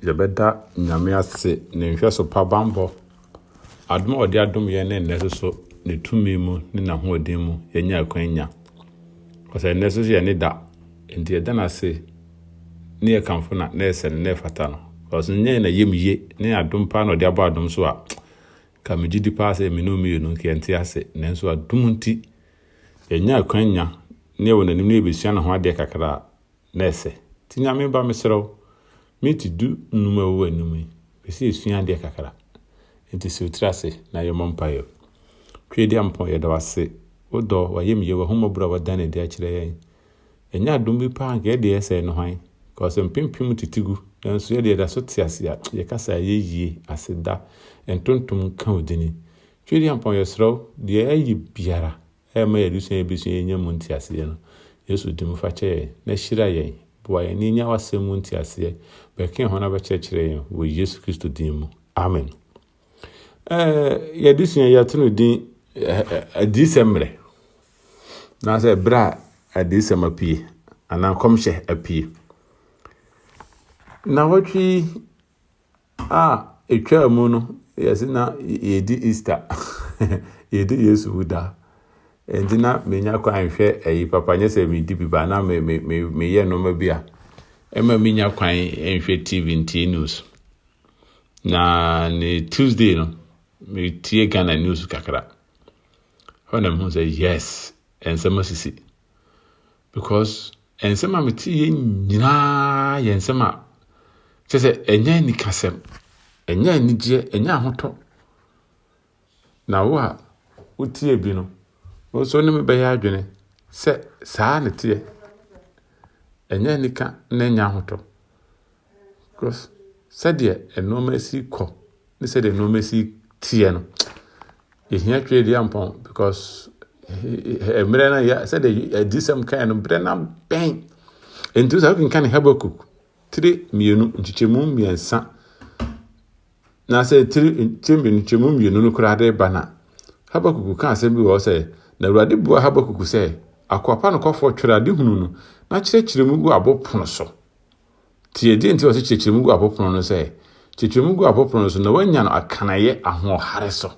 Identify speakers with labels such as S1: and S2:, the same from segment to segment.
S1: yɛbɛda nyame ase ne nhwɛso pa bammɔ adom a ɔde adom yɛn ne nnɛ so ne tumi mu ne n'ahoɔden mu yɛnya akwan nya ɔsɛ nnɛ so so yɛ ne da nti yɛda no ase ne yɛkamfo na na ɛsɛ no na ɛfata no ɔsɛ nyɛ na yɛm yie ne adom paa na ɔde abɔ adom so a Ka megye di paa sɛ me ne wo mmienu nka yɛnte ase, nanso adom nti yɛanya akwan nya ne ɛwɔ n'anim ne yɛbɛsua ne ho adeɛ kakra a, na ɛsɛ. Nti Nyame ba mesrɛ wo, minti du nnum a ɛwɔ w'anim yi, mepɛ sɛ yɛsua adeɛ kakra. Nti siw tiri ase na yɛmmɔ mpaeɛ. Tweediampɔn, yɛda wo ase, wo dɔ, w'ayamyie, w'ahummɔborɔ a woadan no adi akyerɛ yɛn. Ɛnyɛ adom bi paa anka yɛdeɛ yɛsɛe no hwan cause mpem pem tete gu nanso yɛdeɛ yɛda so te ase a yɛkasa ɛyɛ yie aseda ntontom nka wo dini Tweediampɔn yɛsrɛ wo deɛ yɛayɛ biara ɛma yɛn adesua yɛbɛsua yɛnya mu nteaseɛ no Yesu dim fa kyɛ yɛn na hyira yɛn boa yɛn na yɛnya w'asɛm mu nteaseɛ bɛka yɛn ho na bɛkyerɛkyerɛ yɛn wɔ Yesu Kristo din mu Amen. yɛde sua yɛto no din adiyisɛm mmerɛ anaasɛ ɛberɛ a adiyisɛm apue anaa nkɔmhyɛ apue na wɔtwe a ɛtwaa mu no yɛse na yɛdi easter yɛdi yesu wuda ɛnti na menya kɔ anhwɛ ayi papa nyɛ sɛ medi bi ba na meyɛ nnoɔma bi a ɛma menya kwan nhwɛ tv ntie news na ne tuesday no metie ghana news kakra hɔ na mehu sɛ yes nsɛm asisi because nsɛm a mete yɛ nyinaa yɛ nsɛm a kyɛ sɛ ɛnyɛ anikasɛm ɛnyɛ anigyeɛ ɛnyɛ ahotɔ Na wo a wotie bi no, wo nso ne me bɛyɛ adwene sɛ saa na ɛteɛ. Ɛnyɛ anika na ɛnyɛ ahotɔ. Because sɛdeɛ nneɛma si kɔ ne sɛdeɛ nneɛma si teɛ no, yɛhia twerɛ di ampɔn because mmerɛ no yɛ sɛdeɛ adisɛm kan no mmerɛ no abɛn. Nti sɛ wokenka ne Habakkuk tire mmienu nkyekyɛmu mmiɛnsa Na sɛ nkyɛmu mmienu no koraa de reba no a, Habakuk ka asɛm bi wɔ hɔ sɛ, Na Awurade buaa Habakuk sɛ, Akoa pa nokwafoɔ, twɛre adehunu no, na kyerɛkyerɛ mu gu abo pono so. Tie deɛ nti a ɔsɛ kyerɛkyerɛ mu gu abo pono no sɛ, kyerɛkyerɛ mu gu abo pono no so na woanya no akaneeɛ ahoɔhare so.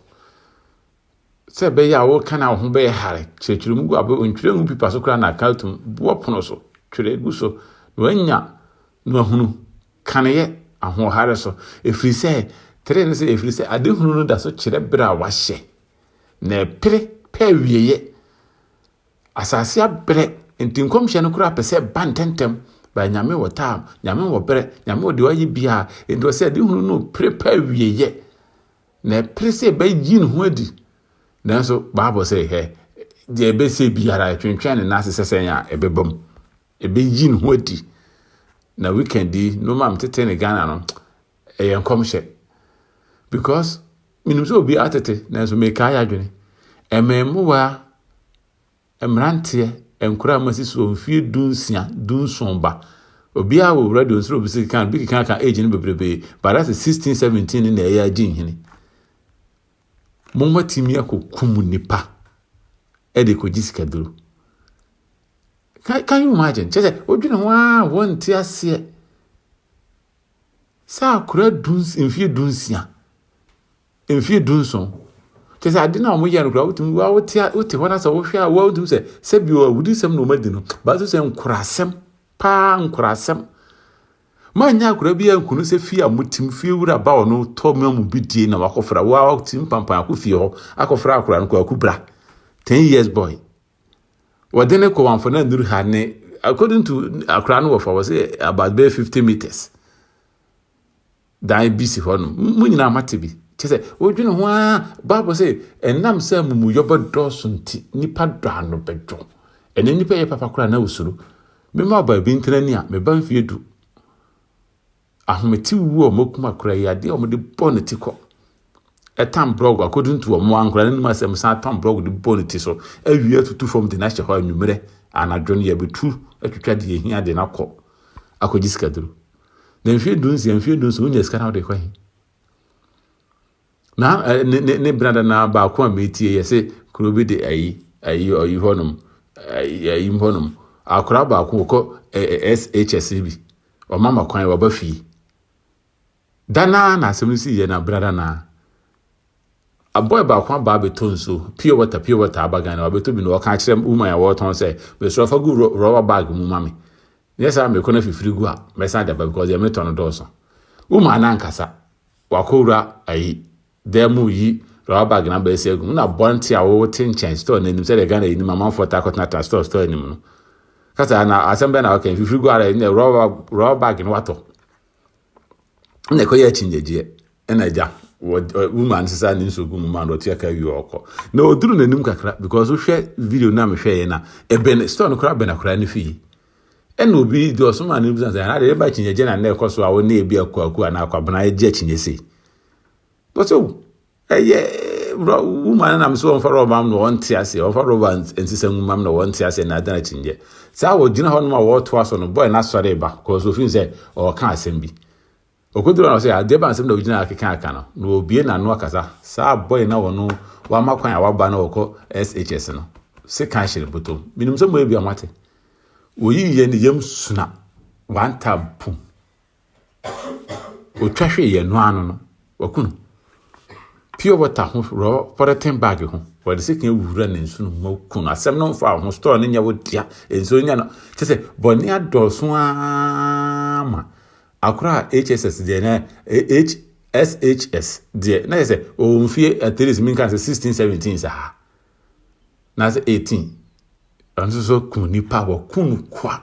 S1: Sɛ ɛbɛyɛ a woka na wo ho bɛyɛ hare, kyerɛkyerɛ mu gu abo ntwerɛ ngu pipa so koraa na aka atum, boɔ pono so, twerɛ gu so na woanya na wɔahunu kaneyɛ ahoɔhare so, ɛfiri sɛ tire ne sɛ, ɛfiri sɛ adehunu no da so kyerɛ berɛ a wɔahyɛ, na ɛpere pɛ awieeɛ. Asase abrɛ, nti nkɔmhyɛ no koraa pɛ sɛ ɛba ntɛmntɛm, baa Nyame wɔ taam, Nyame wɔ berɛ, Nyame wɔ deɛ ɔyɛ biara, nti ɔsɛ adehunu no pere pɛ awieeɛ, na ɛpere sɛ ɛbɛyi ne ho adi. Nanso Bible sɛ, hɛ, deɛ ɛbɛsɛ biara ɛtwentwɛn ne nan ase sɛ sɛn a ɛbɛba mu. Ɛbɛyi ne ho adi. Na weekend yi, nneɛma a metete ne Ghana no, ɛyɛ nkɔmhyɛ. Because menim sɛ obi atete, nanso mekae adwene. Mmɛmmoa, mmeranteɛ, nkora a masi soɔ mfie du nsia, du nson ba. Obiara wɔ radio nsoro obi sɛ kan, bi keka ka age no bebrebe. But that's 16, 17 ne na ɛyɛ agye nhini. Momatumi akɔkum nipa ɛde kɔgye sikaduro. Can, can you imagine? Kyɛ sɛ wodwene ho ara a wɔnte aseɛ sɛ akora du mfeɛ du nsia mfeɛ du nson kyɛ sɛ ade no a wɔyɛ no koraa wotumi wa wote wote hɔ no sɛ wohwɛ a wotumi sɛ sɛ bi wɔ awudisɛm na wɔadi no baaso sɛ nkorasɛm paa nkorasɛm manyɛ akora bi ankunu sɛ fie a motim fie wura ba ɔno tɔ ma mu bi die na wakɔfra wotim pampan akɔ fie hɔ akɔfra akora no kɔ akubra 10 years boy wɔde no kɔ wamfana nduru ha ne according to akora no wɔfa wɔ sɛ about bɛyɛ fifty meters dan bi si hɔ no mu nyinaa mate bi kyɛ sɛ wodwene ho a bible sɛ ɛnam sɛ amumuyɔ bɛdɔɔso nti nipa dɔ ano bɛdwo ɛnɛ nipa yɛ papa koraa na wosuro mema ɔbaa bi ntena ni a meba mfie du ahomete wu a wɔakum akora yi adeɛ a wɔde bɔ ne ti kɔ ɛtan brɔg according to wɔn ankora no nim asɛm san tan brɔg de bɔ ne ti so awie atutu fam de n'ahyɛ hɔ anwummerɛ anadwo no yɛbɛtu atwitwa deɛ ɛhia de no akɔ akɔgye sikaduro na mfeɛ du nsia mfeɛ du nso wonya sika na wode kɔ he Na eh, ne, ne, ne benada no ara baako a metie yɛ sɛ kuro bi de ayi, ayi, ayi hɔnom, ayi, ayi hɔnom. Akora baako wɔkɔ eh, eh, SHS no bi, ɔma ma kwan wɔba fie. Da no ara na asɛm no si yɛ na benada no ara. Abɔe baako aba abɛtɔ nsuo, pure water, pure water aba Ghana, wabɛtɔ bi na ɔka akyerɛ woman a wɔretɔn sɛ, mesrɛ fa gu rɔ- rɔba bag mu ma me. Nyɛ saa mekɔ na fifiri gu a, mɛsan de aba because deɛ metɔ no dɔɔso. Woman no ankasa, Wakɔwura ayi dan mu reyi rɔba bag na abɛɛsi agu mu na bɔnte a wɔte nkyɛn store no anim sɛdeɛ Ghana yi nim amanfoɔ taa kɔtenatena store store anim no kasa na asɛm bɛn na ɔka mfifiri gu ara ne rɔba rɔba bag no watɔ na ɛkɔyɛ akyinnyegyeɛ ɛna agya woman sesa ne nsuo gu mu ma no ɔtua ka wie ɔkɔ na ɔduru n'anim kakra because wohwɛ video no a mehwɛeɛ no a ɛbɛn store no koraa bɛn akora no fie Ɛna obi di ɔsom a ne bisa sɛ anaa yɛba akyinnye gye na nnɛ ɛkɔ so a wo ne ebi akwaku anaa akwabena agye akyinnye sei. Bɔsɛ o ɛyɛ wuma no nam sɛ ɔmfa rɔba no ɔnte ase ɔmfa rɔba nsesa nwuma no ɔnte ase na adan akyinnye. Saa wɔgyina hɔ nom a wɔtoa so no bɔe no asɔre ba kɔɔ so ofin sɛ ɔka asɛm bi. Okoduru hɔ no ɔse, Adeɛ bɛn asɛm na wogyina ha keka aka no? Na obue n'ano akasa. Saa boy no a ɔno wama kwan a waba na ɔkɔ SHS no se kan hyɛ ne botom. Menim sɛ moyɛ biaa moate. Oyii yɛn ne yam suna one time pum. Otwa hwee yɛn no ano no, waku no. Pure water ho rɔ pɔrɛten bag ho, wɔde se kan wura ne nsu no mu ku no. Asɛm no mfa ho, store no nyɛ wo dea, nsuo no nyɛ no. Kyɛ sɛ bɔne adɔɔso ara ma Akora HSS deɛ na H SHS deɛ na yɛ sɛ ɔwɔ mfie at least menka sɛ sixteen seventeen saa na sɛ eighteen ɔno nso so kun nipa wɔku no kwa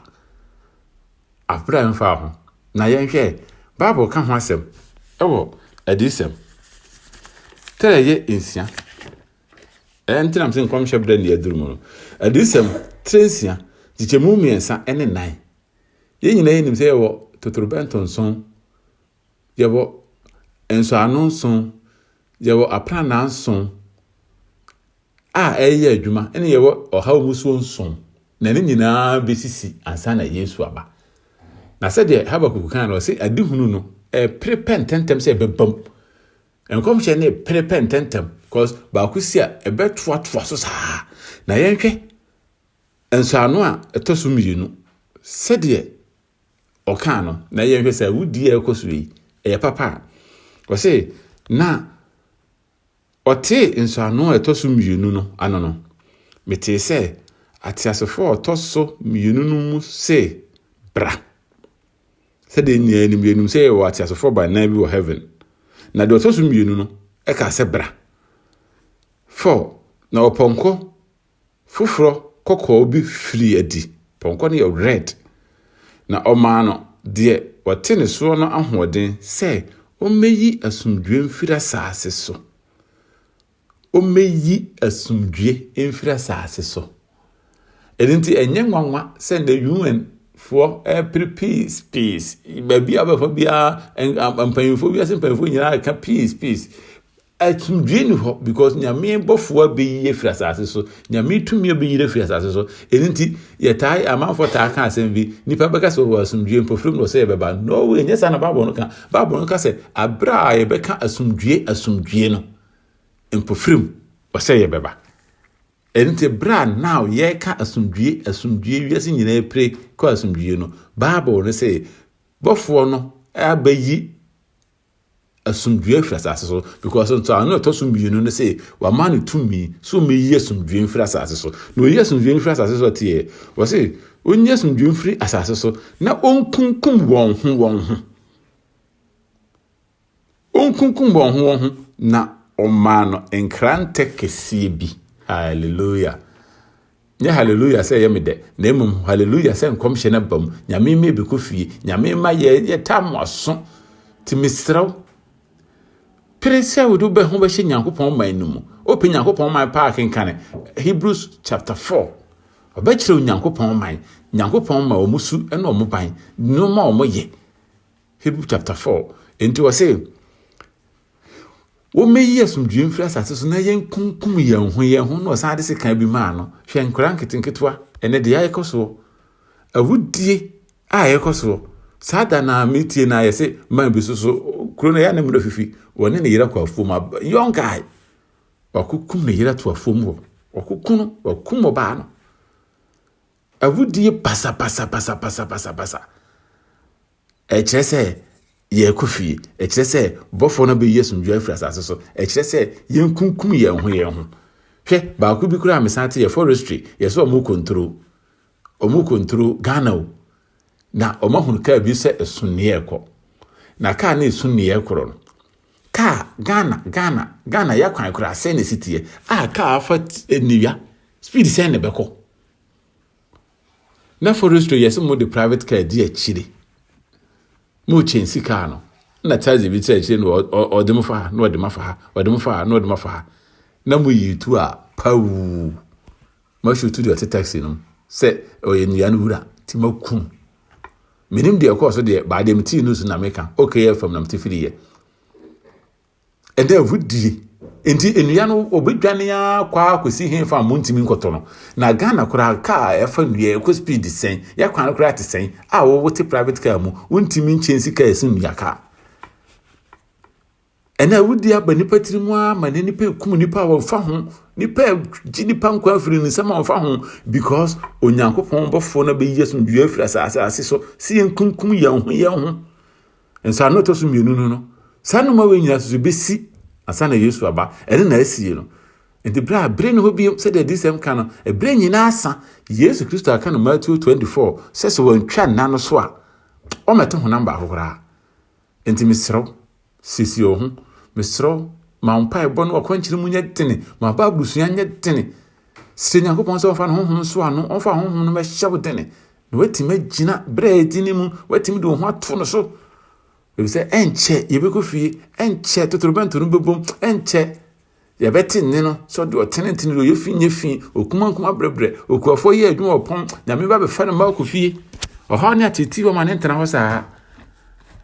S1: abira mfa ho na yɛnhwɛ bible ka ho asɛm ɛwɔ adiyisɛm tɛrɛ yɛ nsia ɛntenam sɛ nkɔmhyɛ berɛ ne aduru mu no adiyisɛm tire nsia kyekyɛmu mmiɛnsa ne nan Yɛn nyinaa nim sɛ yɛwɔ totorobɛnto nson, yɛwɔ nsɔano nson, yɛwɔ aprannaa nson a ɛreyɛ adwuma, ɛne yɛwɔ ɔhaw musuo nson, na ne nyinaa bɛsisi ansa na Yesu aba. Na sɛdeɛ Habakuk kan no, ɔse adehunu no ɛpere pɛ ntɛntɛm sɛ ɛbɛbam. Nkɔmhyɛ no ɛpere pɛ ntɛntɛm, because baako si a ɛbɛtoatoa so saa. Na yɛnhwɛ Nsɔano a ɛtɔ so mmienu, sɛdeɛ ɔkaa no, na yɛnhwɛ sɛ awudie a ɛkɔ so yi, ɛyɛ papa a. Ɔse, na ɔtee nsɔano a ɛtɔ so mmienu no ano no, metee sɛ ateasefoɔ a ɔtɔ so mmienu no mu se, Bra! Sɛdeɛ nyinaa nim, yɛnim sɛ yɛwɔ ateasefoɔ baanan bi wɔ heaven. Na deɛ ɔtɔ so mmienu no, ɛkaa sɛ, Bra! Fɔ, na ɔpɔnkɔ foforɔ kɔkɔɔ bi firii adi, pɔnkɔ no yɛ red, na ɔmaa no deɛ ɔte ne soɔ no ahoɔden sɛ ɔmmɛyi asomdwoeɛ mfiri asaase so, ɔmmɛyi asomdwoeɛ mfiri asaase so. Ɛno nti ɛnyɛ nwanwa sɛ nnɛ UN foɔ ɛrepere peace peace, baabi a wobɛfa biara mpanyinfoɔ, wiase mpanyinfoɔ nyinaa reka peace peace. Asomdwie ni hɔ because nyame bɔfoɔ abɛyi afiri asase so nyame tumi abɛyiri afiri asase so ɛno nti yɛtaa amanfoɔ taa ka asɛm bi nipa bɛka sɛ ɔwɔ asomdwie mpofirim na ɔsɛ yɛbɛba no way ɛnyɛ saa na baabɔ no ka baabɔ no ka sɛ aberɛ a yɛbɛka asomdwie asomdwie no mpofirim ɔsɛ yɛbɛba ɛno nti berɛ a now yɛka asomdwie asomdwie wiase nyinaa pire kɔ asomdwie no baabɔ no sɛ bɔfoɔ no abɛyi asomdwoeɛ afiri asase so because ntoano a ɛtɔ so mmienu no sɛ wama no tumi so mɛyi asomdwoeɛ mfiri asase so na ɔyi asomdwoeɛ mfiri asase so teɛ wɔ se ɔnyi asomdwoeɛ mfiri asase so na ɔnkunkum wɔn ho wɔn ho ɔnkunkum wɔn ho wɔn ho na ɔmaa no nkrantɛ kɛseɛ bi hallelujah Nyɛ hallelujah sɛ ɛyɛ me dɛ, na mmom hallelujah sɛ nkɔmhyɛ no aba mu, Nyame mma ɛbɛkɔ fie, Nyame mma yɛ yɛ taa mo aso. Nti mesrɛ wo, pere sɛ wode wobɛ ho bɛhyɛ Nyankopɔn man no mu. Wopɛ Nyankopɔn man paa kenkane Hebrews chapter 4. Ɔbɛkyerɛ wo Nyankopɔn man, Nyankopɔn ma wɔn su ne wɔn ban, nneɛma wɔn yɛ. Hebrew chapter 4. Nti wɔ se, Wɔmɛyi asomdwoeɛ mfiri asase so na yɛnkunkum yɛn ho yɛn ho na ɔsan de sekan bi maa no. Hwɛ nkwadaa nketenketewa, ɛnɛ deɛ ɛkɔ soɔ. Awudie a ɛkɔ soɔ. Saa da no a metie no a yɛse man bi so so kuro no yɛ ne mmerɛ fifi wɔne ne yere kɔ afuom ab young guy wakokum ne yere to afuom hɔ wakoku no wakum ɔbaa no awudie basabasabasabasabasa Ɛkyerɛ sɛ yɛrekɔ fie. Ɛkyerɛ sɛ bɔfoɔ no bɛyi asomdwoeɛ afiri asase so. Ɛkyerɛ sɛ yɛnkunkum yɛn ho yɛn ho. Hwɛ, baako bi koraa a mesan te yɛ forestry, yɛ sɛ wɔn kɔntoro. Wɔn kɔntoro Ghana o. Na wɔn ahunu kaa bi sɛ ɛso nea ɛkɔ. Na kaa no ɛso nea ɛkorɔ no. Kaa Ghana, Ghana, Ghana yɛ akwan koraa sɛn na ɛsi teɛ. A kaa afa nnewia, speed sɛn na ɛbɛkɔ. na forestry yɛ sɛ mo de private car di akyire mo kyɛn si car no na taxi bi sɛ akyire no ɔde mo fa ha na ɔde ma fa ha ɔde mo fa ha na ɔde ma fa ha na mo yi tu a pawuu mo ahyɛ tu deɛ ɔte taxi no sɛ ɔyɛ nnua no wura ti ma kum menim deɛ ɛkɔɔ so deɛ baadeɛ me tii no so na meka okayɛ fam na mete firi yɛ ɛdɛ agodie nti nnua no wɔbɛdwane ara kɔ ara kɔsi he fa mo ntumi nkɔtɔ no na ghana koraa kaa a ɛfa nnua ɛkɔ speed sɛn yɛakwan no koraa te sɛn a wɔwote private car mu wontumi nkyɛnsi kaa ɛso nnua kaa ɛna awudi aba nipa tiri mu ara ma ne nipa ekum nipa a wɔfa ho nipa gye nipa nkwa afiri ne nsɛm a wɔfa ho because onyankopɔn bɔfoɔ no bɛyi asomdua afiri asase ase so si yɛn kunkum yɛn ho yɛn ho Nsɔano a ɛtɔ so mmienu no no, saa nnoma wei nyinaa nso bɛsi ansa na Yesu aba. Ɛno na asie no. Nti berɛ a bere ne hɔ bio sɛdeɛ adiyisɛm ka no, ɛberɛ nyinaa asa. Yesu Kristo aka no Matthew 24 sɛ sɛ wantwa nna no so a, ɔmmɛte honam baako koraa. Nti mesrɛ wo, siesie wo ho. Mesrɛ wo, ma wo mpaebɔ no akwankyerɛ mu nyɛ dene, ma wo Bible sua nyɛ dene. Srɛ Nyankopɔn sɛ ɔmfa ne honhom nso ano, ɔmfa honhom no mɛhyɛ wo dene. na woatumi agyina berɛ a ɛdi no mu, woatumi de wo ho ato no so. Ebi sɛ ɛnkyɛ yɛbɛkɔ fie, ɛnkyɛ totorobɛnto no bɛbom, ɛnkyɛ yɛbɛte nne no sɛ ɔde ɔtenetene deɛ ɔyɛ fi nyɛ fi, okumankuma brɛbrɛ, okuafoɔ yɛ adwuma ɔpɔn, nyame ba bɛfa no mma akɔ fie. Ɔhaw ne atete hɔ ma ne ntena hɔ saa.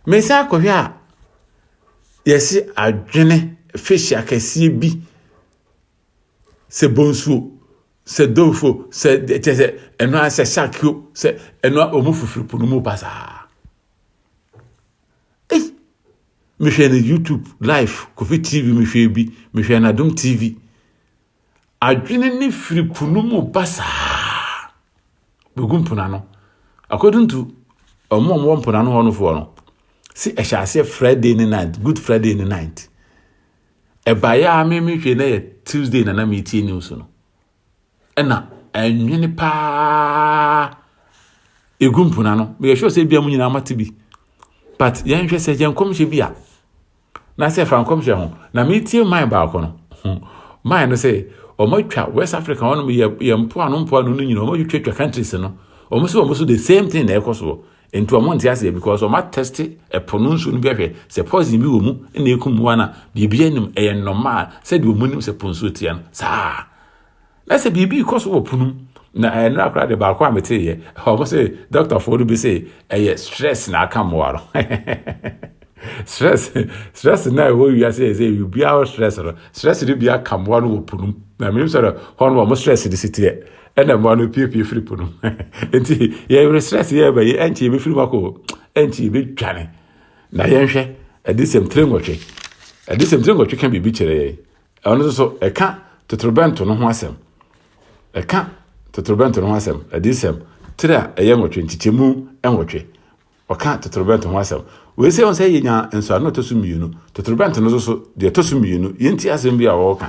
S1: Mesan akɔhwɛ a yɛse adwene fish akɛseɛ bi sɛ bonsuo sɛ dofo sɛ kyɛ sɛ ɛno ara sɛ sakio sɛ ɛno a wɔn fifiri po no mu basaa ei mehwɛ no youtube live kofi tv mehwɛ bi mehwɛ nadom tv adwene ne firi po no mu basaa bɛgu mpona no according to wɔn a wɔwɔ mpona no hɔ nofoɔ no sɛ ɛhyɛ aseɛ friday ne night good friday ne night ɛbaeɛ a me mehwɛ na yɛ tuesday na na metie news no ɛna ɛnwene paa ɛgu mpona no meyɛ hwɛ sɛ bia mu nyinaa mate bi but yɛnhwɛ sɛ yɛ nkɔmhyɛ bi a na sɛ fa nkɔmhyɛ ho na metie man baako no man no sɛ ɔmatwa west africa hɔ nom yɛ mpoano mpoano no nyina ɔmatwitwatwa countries no ɔmo sɛ ɔmo so the same thing na ɛkɔ soɔ Nti ɔmo nte aseɛ because ɔmo atɛste ɛpo no nsuo no bi ahwɛ sɛ poison bi wɔ mu na ɛku mmoa no a biribi anim ɛyɛ normal sɛdeɛ ɔmo nim sɛ po nsuo teɛ no saa na sɛ biribi rekɔ so wɔ po no mu na ɛnora koraa de baako a meteeɛ ɔmo sɛ dɔktafoɔ no bi sɛ ɛyɛ stress na aka mmoa no stress stress na ɛwɔ wiase yɛ sɛ biribiara stress no stress no bi aka mmoa no wɔ po no mu na menim sɛ hɔ no ɔmo stress no si teɛ Ɛna mmoa no piepie firi po no mu. Enti yɛresrɛ sɛ yɛreba yi, ɛnkyɛ yɛbɛfiri mu akɔ, ɛnkyɛ yɛbɛdwane. Na yɛnhwɛ adesɛm tire nwɔtwe. Adesɛm tire nwɔtwe ka biribi kyerɛ yɛn. Ɛno nso so, ɛka totorobɛnto no ho asɛm. Ɛka totorobɛnto no ho asɛm. Adesɛm tire a ɛyɛ nwɔtwe, nkyekyɛmu nwɔtwe. Wɔka totorobɛnto ho asɛm. Wei sɛ, ɛwɔ sɛ yenya nsɔano a ɛtɔ so mmienu. Totorobɛnto no nso so, deɛ ɛtɔ so mmienu, yɛnti asɛm bi a wɔreka.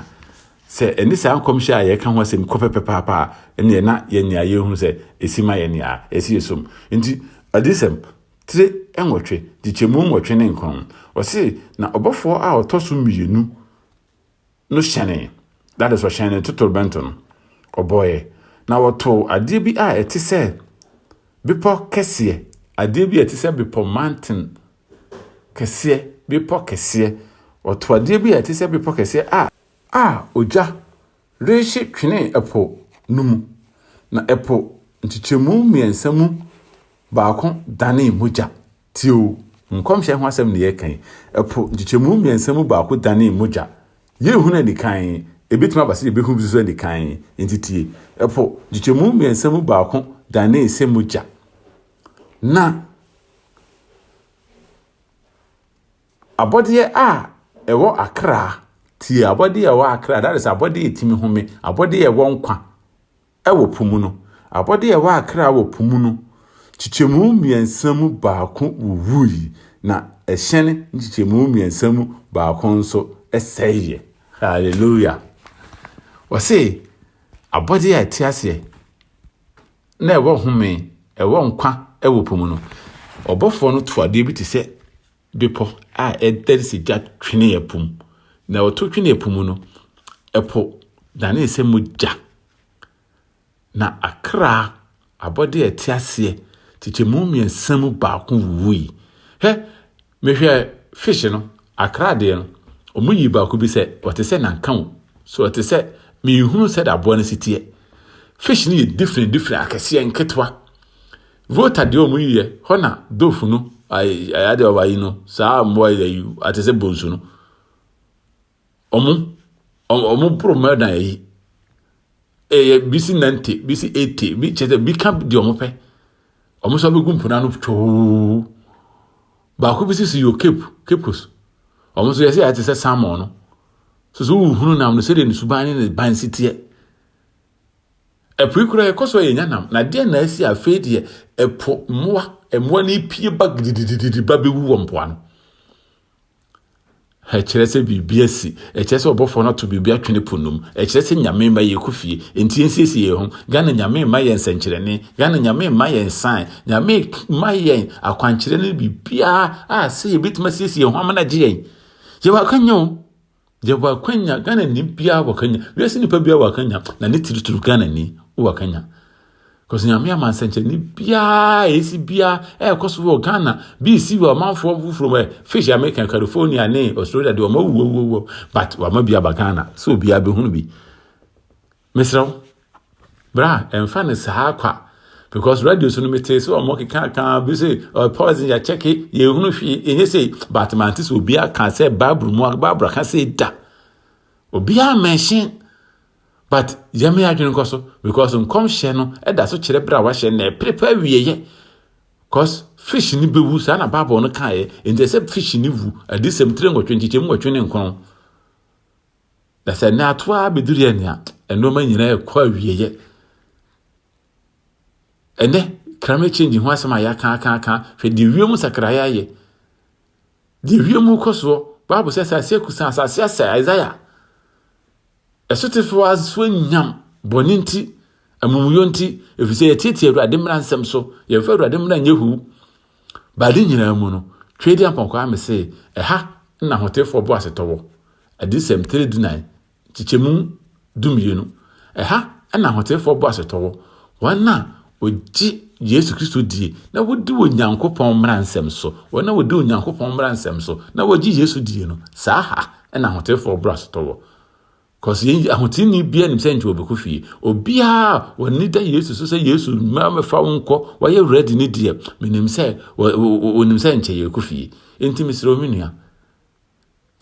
S1: Sɛ ɛne saa nkɔmhyɛ a yɛreka ho asɛm kɔ pɛpɛpɛapa a, ɛnneɛ na yɛnyaa yɛhu sɛ ɛsi ma yɛn nea ɛsɛ yɛsom. Enti, Adiyisɛm tire nwɔtwe, nkyekyɛmu nwɔtwe ne nkron, wɔse, Na ɔbɔfoɔ a ɔtɔ so mmienu, no hyɛnee, that is, ɔhyɛn ne totorobɛnto no, ɔbɔeɛ, na wɔtoo adeɛ bi a ɛte sɛ bepɔ kɛseɛ, adeɛ bi a ɛte sɛ bepɔ, mountain, kɛseɛ, bepɔ kɛseɛ, wɔtoo adeɛ bi a ɛte sɛ bepɔ kɛseɛ a, a ogya rehye twenee ɛpo no mu, na ɛpo nkyekyɛmu mmiɛnsa mu baako danee mogya. Tie o, nkɔmhyɛ ho asɛm na yɛreka yi, ɛpo nkyekyɛmu mmiɛnsa mu baako danee mogya. Yɛnhunu anikan, ɛbɛtumi aba sɛ yɛbɛhunu bi nso anikan, enti tie. Ɛpo nkyekyɛmu mmiɛnsa mu baako danee sɛ mogya. Na abɔdeɛ a ɛwɔ akra, tie, abɔdeɛ a ɛwɔ akra, that is abɔdeɛ a ɛtumi home, abɔdeɛ a ɛwɔ nkwa, Wɔ po mu no, abɔde a ɛwɔ akra wɔ po mu no nkyekyɛmu mmiɛnsa mu baako wuwui, na ɛhyɛn nkyekyɛmu mmiɛnsa mu baako nso sɛeɛ. Hallelujah! Wɔse abɔdeɛ a ɛte aseɛ na ɛwɔ home, ɛwɔ nkwa wɔ po mu no, ɔbɔfoɔ no to adeɛ bi te sɛ Bepɔ a ɛdɛre sɛ gya twenee ɛpo mu, na ɔto twenee ɛpo mu no, ɛpo danee sɛ mogya, na akra, abɔdeɛ a ɛte aseɛ, kyekyɛmu mmiɛnsa mu baako wuwui. Hɛ, mehwɛ fish no, akra deɛ no, wɔn yi baako bi sɛ ɔte sɛ nanka o, so ɔte sɛ, menhunu sɛdeɛ aboa no si teɛ. Fish no yɛ different different, akɛseɛ, nketewa. Volta deɛ ɔmo yiɛ hɔ na dofu no ayi adeɛ ɔmo ayi no saa mmoa yi ayi ate sɛ bonsu no ɔmo ɔmo ɔmo boro mmaa dan ayi ɛyɛ bi si nante bi si ete bi kyɛ sɛ bi ka deɛ ɔmo pɛ ɔmo nso abɛgu mpona no twoo baako bi si si yɛ cape capes ɔmo nso yɛsɛ yɛate sɛ salmon no so so wohunu nam no sɛdeɛ ne suban ne ne ban si teɛ Ɛpo yi koraa yɛkɔ so a yɛnya nam, na deɛn na asi a afei deɛ ɛpo mmoa, mmoa no repie ba gididididi ba bɛwu wɔ mpoano? ɛkyerɛ sɛ biribi asi ɛkyerɛ sɛ ɔbɔfoɔ no ato biribi atwene po nom ɛkyerɛ sɛ nyame mma yɛ kɔ fie nti yɛnsiesie yɛn ho ghana nyame mma yɛn nsɛnkyerɛnne ghana nyame mma yɛn san nyame mma yɛn akwankyerɛ no biribiaa a sɛ yɛbɛtumi asiesie yɛn ho ama no agye yɛn yɛwɔ akanya o Yɛwɔ akwanya, Ghanani biara wɔ akwanya, wiase nipa biara wɔ akwanya, na ne tiritiri Ghanani wɔ akwanya. Because nyame ama nsɛnkyerɛnne biara ɛsi biara ɛrekɔ so wɔ Ghana bi si wɔ ɔmanfoɔ foforɔ mu fish America California ne Australia deɛ ɔma wuwawuwawuwa but wama bi aba Ghana so obiara bɛhunu bi. Mesrɛ wo, bra, ɛmfa no saa kwa. Because radio so no metee sɛ ɔmo kekaka bi sɛ ɔyɛ poison yɛakyɛke yɛhunu hwee ɛnyɛ sei but mante sɛ obi aka sɛ bible mu bible aka sɛ da obiara mention but yɛme adwene nkɔ so because nkɔmhyɛ no ɛda so kyerɛ berɛ a wahyɛ na ɛperepa awieɛ cause fish ni bɛwu saa na bible no kaeɛ ɛnti sɛ fish ni wu adesɛm tire nwɔtwe nkyekyɛmu nwɔtwe ne nkron Na sɛ ɛnɛ ato ara bɛduru yɛ nea nneɛma nyinaa ɛkɔ awieeɛ. Ɛnɛ climate change ho asɛm a yɛaka aka aka hwɛ deɛ wiem sakraeɛ ayɛ. Deɛ wiem kɔ soɔ baabu sɛ asase akusa asase asɛ Isaiah. Ɛsotefoɔ asoɔ nyam bɔne nti amumuyɔ nti ɛfiri sɛ yɛtiatia awurade mmara nsɛm so yɛmfa awurade mmara nyɛ hu Bɛade nyinaa mu no, Tweaduampɔn kɔaa me se, Ɛha na Ahoteefoɔ boasetɔ wɔ. Adiyisɛm tire dunan, nkyekyɛmu dumienu. Ɛha na Ahoteefoɔ boasetɔ wɔ, wɔn a wɔgye Yesu Kristo die na wɔdi Onyankopɔn mmaransɛm so, wɔn a wɔdi Onyankopɔn mmaransɛm so na wɔgye Yesu die no, saa ha na Ahoteefoɔ boasetɔ wɔ. Cause yɛn ahotini biara nim sɛ nti wɔbɛkɔ fie obiara wɔni da yesu so sɛ yesu mmaa mɛfa wo nkɔ wɔyɛ ready ne deɛ menim sɛ wɔnim sɛ nkyɛ yɛkɔ fie nti mesrɛ wo me nua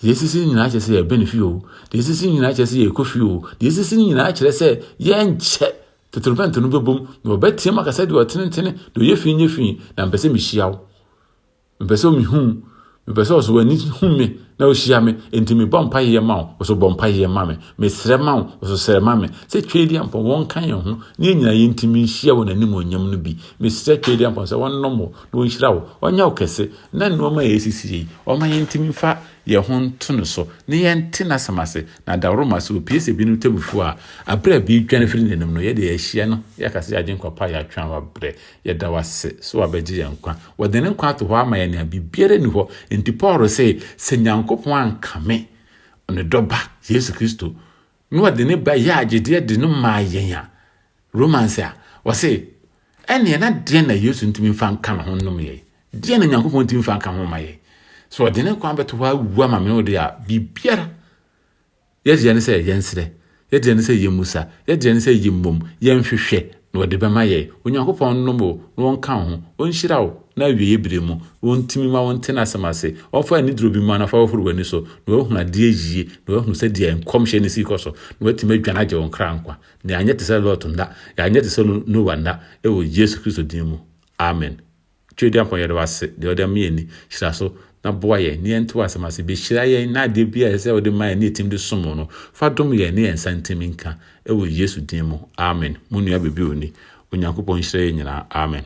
S1: deɛ ɛsisi nyinaa kyerɛ sɛ yɛbɛ ne fie o deɛ ɛsisi nyinaa kyerɛ sɛ yɛkɔ fie o deɛ ɛsisi nyinaa kyerɛ sɛ yɛnkyɛ totorobɛnto no bɛbom na wɔbɛteam akasɛ deɛ ɔtenetene deɛ ɔyɛ fii nyɛ fii na mpɛ sɛ mehyia wo Mepɛ sɛ mihu wo. Mepɛ sɛ ɔso w'ani hu me na ohyia me. Enti mebɔ mpaeɛ ma wo, ɔso bɔ mpaeɛ ma me. Mesrɛ ma wo, ɔso srɛ ma me. Sɛ Tweediampɔn, wɔnka yɛn ho na yɛn nyinaa yɛntumi nhyia wɔ n'animuonyam no bi. Mesrɛ Tweediampɔn sɛ ɔnnom wo na ɔnhyira wo, ɔnyɛ wo kɛse, na nnoɔma a ɛresisi yei, ɔmma yɛntumi mfa yɛn ho nto no so na yɛnte n'asɛm ase. Na dawroma, sɛ ɔpue sɛ binom tɛmmufoɔ a, aberɛ a bi redwane firi n'anim no, yɛdeɛ yɛahyia no, yɛaka sɛ yɛagye nkwa pa a yɛatwe ama berɛ. Yɛda wo ase sɛ wabɛgye yɛn nkwa. Wɔde ne nkwa ato hɔ ama yɛn a biribiara nni hɔ. Enti Paul se, Sɛ Nyankopɔn ankame ne dɔ ba, Yesu Kristo, na ɔde ne ba yɛɛ agyedeɛ de no maa yɛn a, Romans a, ɔse, ɛneɛ na deɛn na Yesu ntumi mfa nka ne ho nnom yɛn? Deɛn na Nyankopɔn ntumi mfa nka ho ma yɛn? Sɛ ɔde ne nkwa bɛto hɔ awu ama me ne wo de a, biribiara Yɛ'deɛ ne sɛ yɛnsrɛ, Yɛ'deɛ ne sɛ yɛ'mmisa, Yɛ'deɛ ne sɛ yɛ'mmom, yɛnhwehwɛ, na Ɔde bɛma yɛn. Onyankopɔn nnom wo, na Ɔnka wo ho, Ɔnhyira wo, na awieɛ berɛ mu, Ɔntumi mma wo nte N'asɛm ase. Ɔmfa aniduro bi mma wo na fa hohoro w'ani so, na w'ahunu adeɛ yie, na w'ahunu sɛdeɛ Nkɔmhyɛ no sii kɔ so, na w'atumi adwane agye wo nkra nkwa, na yɛ'anyɛ tesɛ Lot nna, yɛ'anyɛ tesɛ Noah nna, wɔ Yesu Kristo din mu, Amen. Twere Dampɔn yɛda wo ase deɛ ɔde ama yɛn ni hyira so na boa yɛn na yɛnte w'asɛm ase bɛhyira yɛn na adeɛ bi a ɛsɛ sɛ wode ma yɛn ne yɛtim de som wo no fa dom yɛn ne yɛn nsa ntim nka ɛwɔ Yesu din mu amen mo nua bɛbi oni Onyankopɔn nhyira yɛn nyinaa amen.